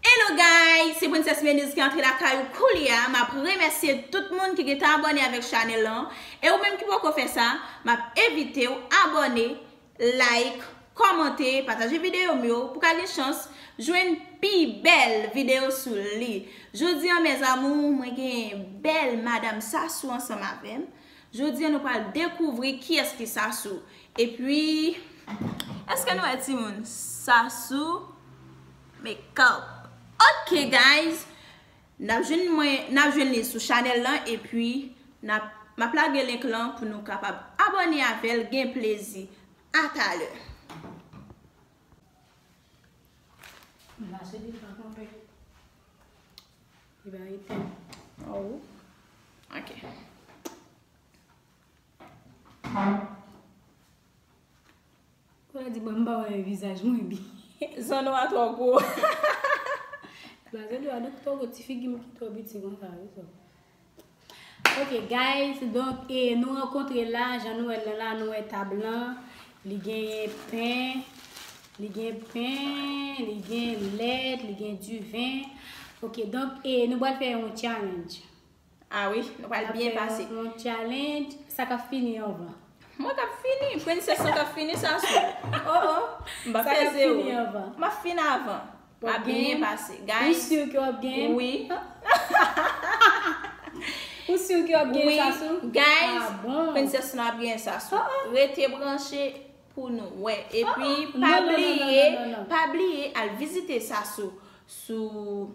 Hello guys se princess Meniz ki antre lakay ou koulya map remèsye tout moun ki gentan abòne avèk chanèl lan e ou menm ki poko fè sa map envitew abòne like kòmante pataje videyo m yo pou ka gen chans jwenn pi bèl videyo sou li jodi an mes amour mwen gen bèl madam Sassou ansanm avèm. Jodi an nou pral dekouvri kiyès ki Sasou epi Eske nou wè timoun Sasou makeup. Ok guys Nap jwenn mwen nap jwenn li sou chanèl lan epi nap map lage link lan pou nou kapab abòne avèl gen plezi atalè. Li ba li pen. Oh. Ok. Pou la di ba mba wè vizaj mwen bi. Zan ou a tro gwo. Ba zan ou a dok tro gwo ti figi mwen ki tro biti mwen sa. Ok guys donk e nou rankontre la jan nou wèl nan la nou wè tab lan li genyen pen li gen pen li gen lèt li gen diven ok donk e nou bal fè yon challenge ah wi nou bal byen pase yon challenge sa kap fini anvan mwen kap fini princess lan kap fini sa sou oh oh sa kap fini anvan map fini avan Map byen pase guys. Ou sur ke wap gen? Oui. Ou sur ke wap gen sasou? Oui. Guys, Princess Snow ap gen sasou. Rete branche pou nou wè. E pi pa bliye, pa bliye al vizite sasou sou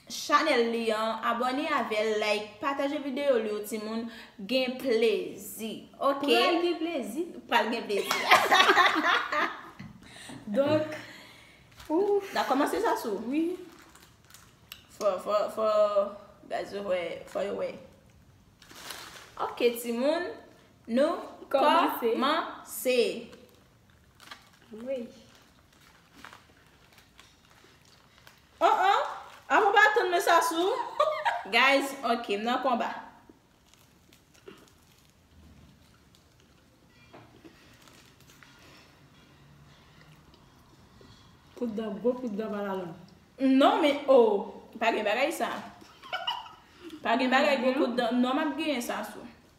Chanel li an abone avel like pataje video li yo ti moun gen plezi ok. Pral gen plezi. Pral gen plezi. Donk. Ouff. Na komanse sa sou. Wi. Fo fo fo guys yo we fo yo we. Ok ti moun nou komanse. Anmweyy. Oh oh! A mwen pa tann men sa sou. Guys, ok, m nan konba. Kout dan gwo, kout dan bala long. Non men, oh! Pa gen bagay sa. Pa gen bagay gwo kout dan. Non m ap genyen sa sou.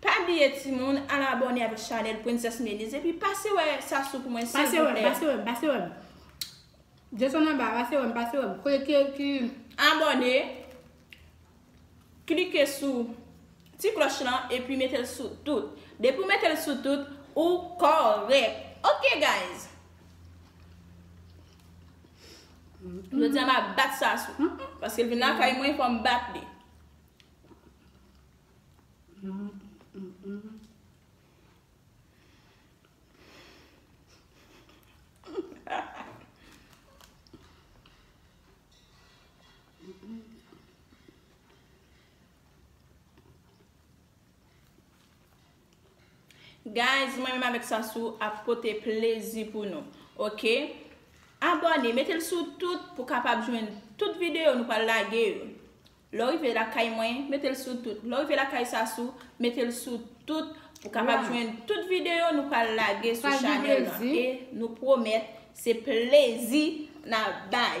Pa bliye timoun al abone avèk chanèl Princess Mélisse epi pase wè Sasou pou mwen silvouplè. Pase wèm, pase wèm. Desann anba, pase wèm, pase wèm. Kote ki abone. Klike sou Ti klòch lan epi metel sou tout. Depi ou metel sou tout ou kòrèk. Ok guys. Jodi a ma bat Sassou. Paske l vin lakay mwen fòm bat li. Guys mwen menm avèk Sasou ap pote plezi pou nou ok Abòne metel sou tout pou kapab jwenn tout videyo nou pral lage yo Lè w rive lakay mwen metel sou tout Lè w rive lakay Sasou metel sou tout pou kapab jwenn tout videyo nou pral lage sou chanèl lan e nou pwomèt se plezi nap bay.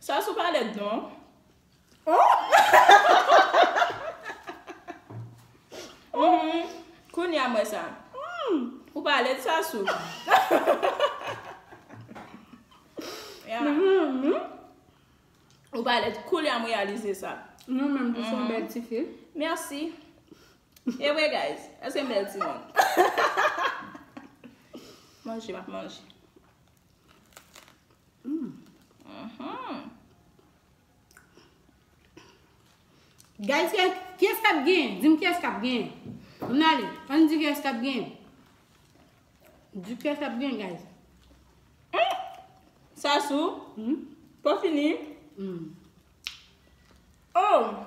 Sa sou palèt non. Kounye a m wè sa. Ou palèt sa sou. Ou palèt koulye a m reyalize sa. Mwen menm tou son bèl tifi. Merci. Ewe guys, eske m bel timoun? Manje map manje. Guys, kyes kap gen? Dim kyes kap gen? M nale, an di kyes kap gen? Di kyes kap gen guys? Sasou, pa fini? Mmm. Oh!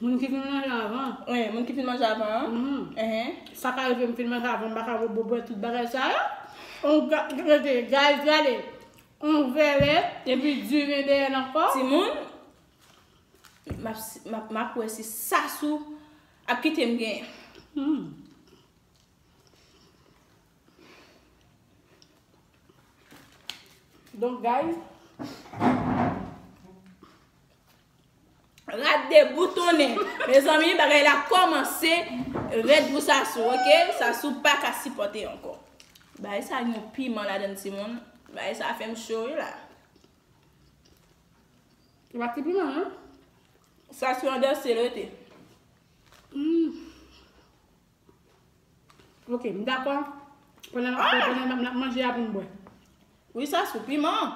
Moun ki fin manje avan an. Wen, moun ki fin manje avan an. Ehe. Sa ka rive m fin manje avan, m pa ka bo bwè tout bagay sa yo. On ga, gade, guys, gade. On vèlè, epi diven dèyè l ankò. Timoun, m ap, m ap, m ap wè si Sasou ap kite m gen. Humm. Donk, guys. Rad deboutonnen mezanmi bagay la komanse red pou sasou ok sasou paka sipote anko bagay sa gen yon piman ladann timoun bagay sa fem cho wi la. Se pa ti piman non. Sasou an danse l rete. Ok m dako pandan map manje a poum bwe. Wi sasou piman an.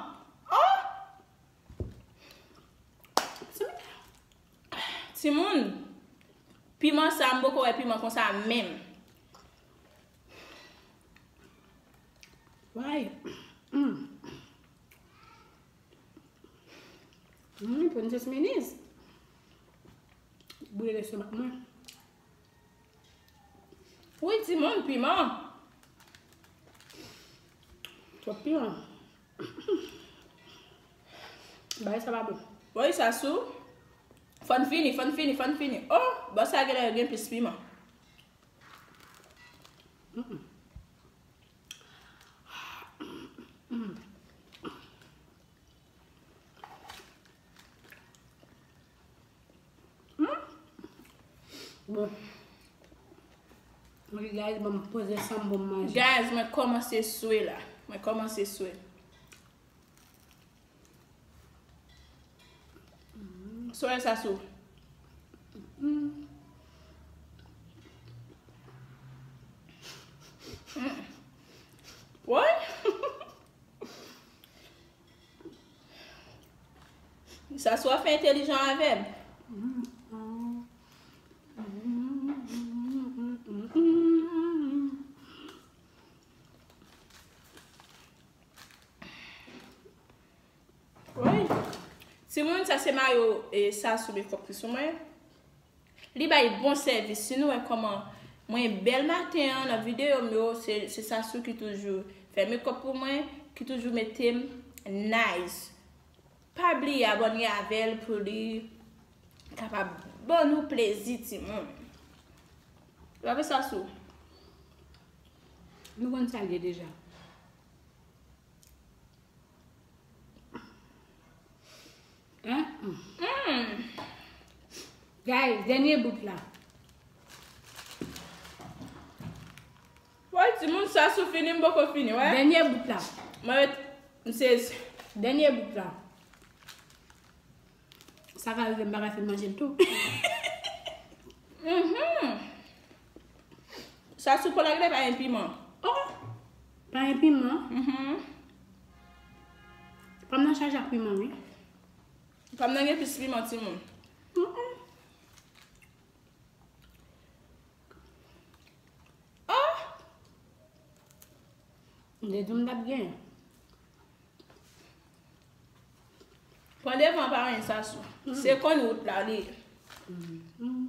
Ti moun, piman sa m poko wè piman konsa menm. Why? Mmm. Mmm, pou n jis minis. Bouye lè se mak mwen. Wouy ti moun, piman. Twòp piman. Bagay sa pa bon. Woy Sasou fòn fini fòn fini fòn fini oh bò sa genlè gen plis piman. Bon. Mwen guys mwen poze san mwen manje. Guys mwen komanse swe la. Mwen komanse swe. Soye sa sou. Woy. Sa swa fè entelijan avèm. Timoun sa se mayo e sa sou mekòp ki sou mwen. Li bay bon sèvis. Si nou wè kòman Mwen bèl maten an nan videyo m yo se Sassou ki toujou fè mekòp pou mwen ki toujou mete m nice pa bliye abòne avèl pou li kapab ban nou plezi timoun ou pa vre Sassou? Nou konn sa l ye deja. Guys, dènye bout la. Woy, ti moun sa sou fini m boko fini, wè. Dènye bout la. Mwen wè, m sezi. Dènye bout la. Sa ka rive m baka fin manje l tou. Sa sou kòlak la pa gen piman. Oh! Pa gen piman? Mh. Pam nan chaje ak piman wi. Pam nan gen plis piman ti moun. Mh. Oh! M te di m tap gen. Pran devan pa anyen sa sou. Se konn wout la li ye. Mh.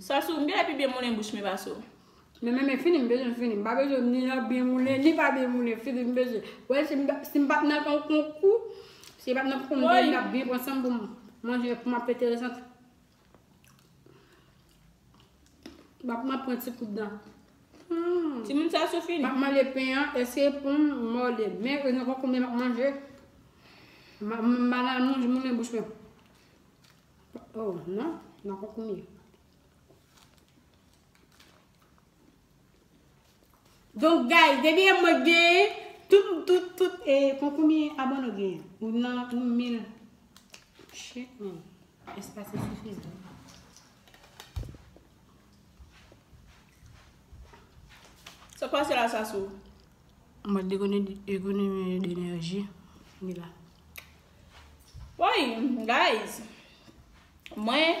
Sòs ou, m genlè pi byen moulen bouch men pa sou. Men men men fini m bezwen l fini. M pa bezwen ni nan byen moulen, ni pa byen moulen. Fini m bezwen. Ou wè si m pa si m pa t nan yon konkou, si m pa t nan konkou m t ap byen pran san m pou m manje pou m ap enteresant. Bap map pran ti kout dan. Ti moun sa sou fini. Map male pen an ese pou m mòde. Men e nan konkou men map manje. Banal moun moun men bouch men. Oh nan nan konkou men. Donk guys depi e mwen k genyen tout tout tout e kon konbyen abone ou genyen ou nan yon mil shit man eske se sifizan. Sa k pase la Sasou? An mòd ekonomi d'enerji li la. Woy guys mwen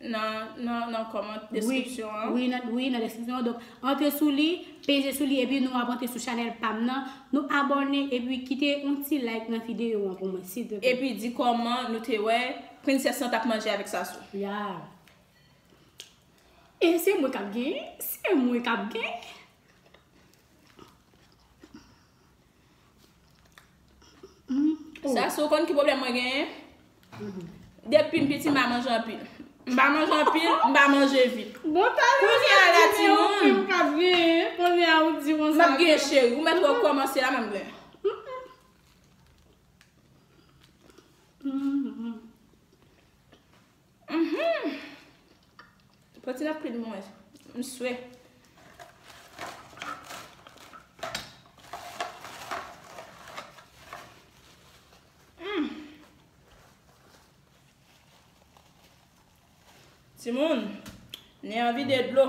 Nan nan kòmant deskripsyon an. Wi nan wi nan deskripsyon an donk antre sou li peze sou li epi nou ap antre sou chanèl pam nan nou abòne epi kite yon ti like nan videyo an pou mwen silvouplè. Epi di kòman nou te wè princess lan tap manje avèk Sassou. Yeah e se mwen kap genyen se mwen kap genyen. Sasou ou konn ki pwoblèm mwen genyen? Depi m piti m pa manje anpil. M pa manje anpil, m pa manje vit. Bon talan sa Kounye a la ti moun. Ou menm kap genyen. Kounye a ou di konsa. Map genyen cheri. Ou mèt wè kòmanse la map genyen. Humm pran ti napkin pou mwen m swe. Humm timoun nen an vide dlo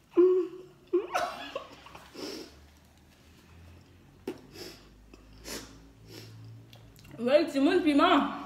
Woy timoun piman.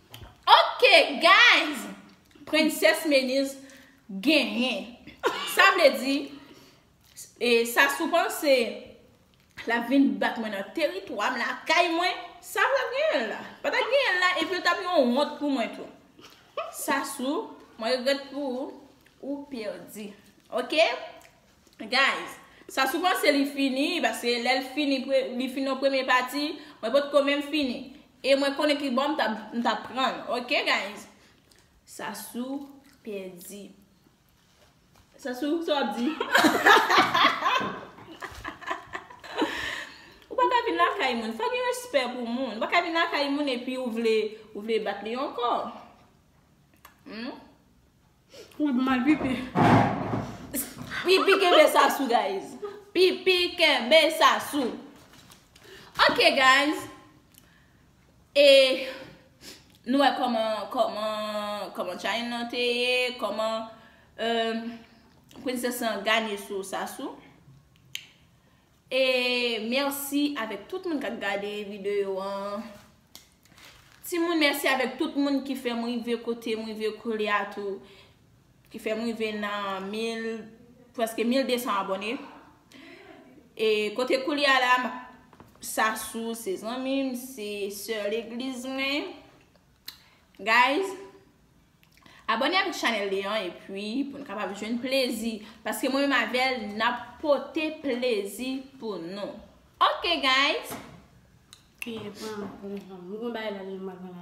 Ok guys Princess Meniz genyen Sa vle di E Sassou panse Lap vin bat mwen nan teritwam lakay mwen Sa vle genyen la Pata genyen la epi yo tap yon wont pou mwen tou Sassou Mwen regret pou ou Ou perdi Ok Guys Sassou panse li fini paske lèl fini Li fini nan premye pati Mwen potko menm fini E mwen konnen kibò m tap m tap pranl ok guys. Sasou pèdi. Sasou sa wap di. Ou pa ka vin lakay moun. Fò gen respè pou moun. Ou pa ka vin lakay moun epi ou vle ou vle bat li ankò. Humm. Mwen ap mal pipi. Pipi kenbe sa sou guys. Pipi kenbe sa sou. Ok guys. E nou wè koman koman koman challenge lan te ye. Koman euh princess lan gagne sou sa sou. E merci avek tout moun kap gade video an. Ti moun merci avek tout moun ki fem rive kotem rive koulia tou. Ki fem rive nan 1000 preske 1200 abone. E kote koulia la Sasou se zanmim se sè legliz mwen. Guys Abone avèk chanèl li an epi pou nou kapab jwenn plezi paske mwen menm avèl nap pote plezi pou nou Ok guys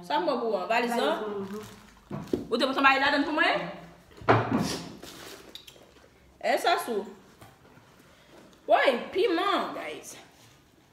Sa m bò pou ou an? Valiz lan? Ou te pote yon bagay ladan l pou mwen? E sa sou Woy piman guys.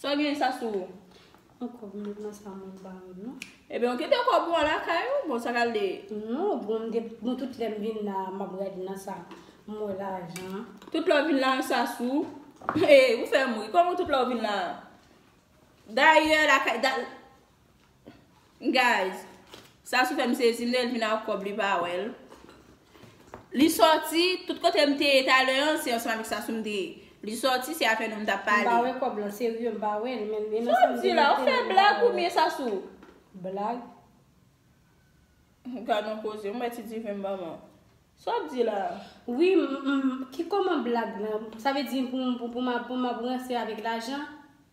Saw gen sa sou ou? An kob mwen nan sa mwen pa menm non. Ebyen ou kite kob ou a lakay ou bon sa kal de. Non bon m depi bon tout lèm vin la map gade nan sa m wè lajan an. Tout lè w vin la an sa sou ou? Hey ou fèm ri kòman tout lè ou vin la an. Dayè lakay da. Guys Sassou fèm sezi m lèl vin ak kòb li pa wèl Li sòti tout kote m te ye talè an se ansanm avèk Sassou m te ye Li sòti se afè nou m tap pale M pa wè kòb lan serye m pa wèl men e nan sa m te mete Sa w di la ou fè blag ou byen Sassou Blag Gad yon koze m wè ti diven m ban m an Sa w ap di la Wi m ki kòman blag lan sa vle di pou m ap ranse avèk lajan.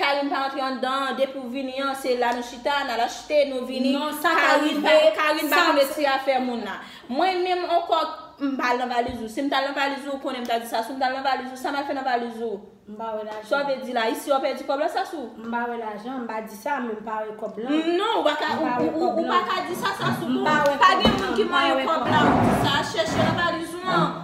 Carine pa antre andan an depi ou vini an se la nou chita nal achte nou vini non sa ka rive Carine pa konn ekri afè moun la mwen menm on kòk m pa al nan valiz ou sim tal nan valiz ou ou konnen m ta di Sasou m tal nan valiz ou sa mal fè nan valiz ou m pa wè lajan sa w vle di la isi wap pèdi kòb la Sasou m pa wè lajan m pa di sa men m pa wè kòb lan non ou pa ka ou pa ka di sa Sasou m pa wè kòb lan pa gen moun ki manyen kòb la ou di sa chèche nan valiz ou an.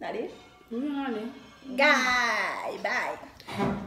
Gade. Gay. Bay.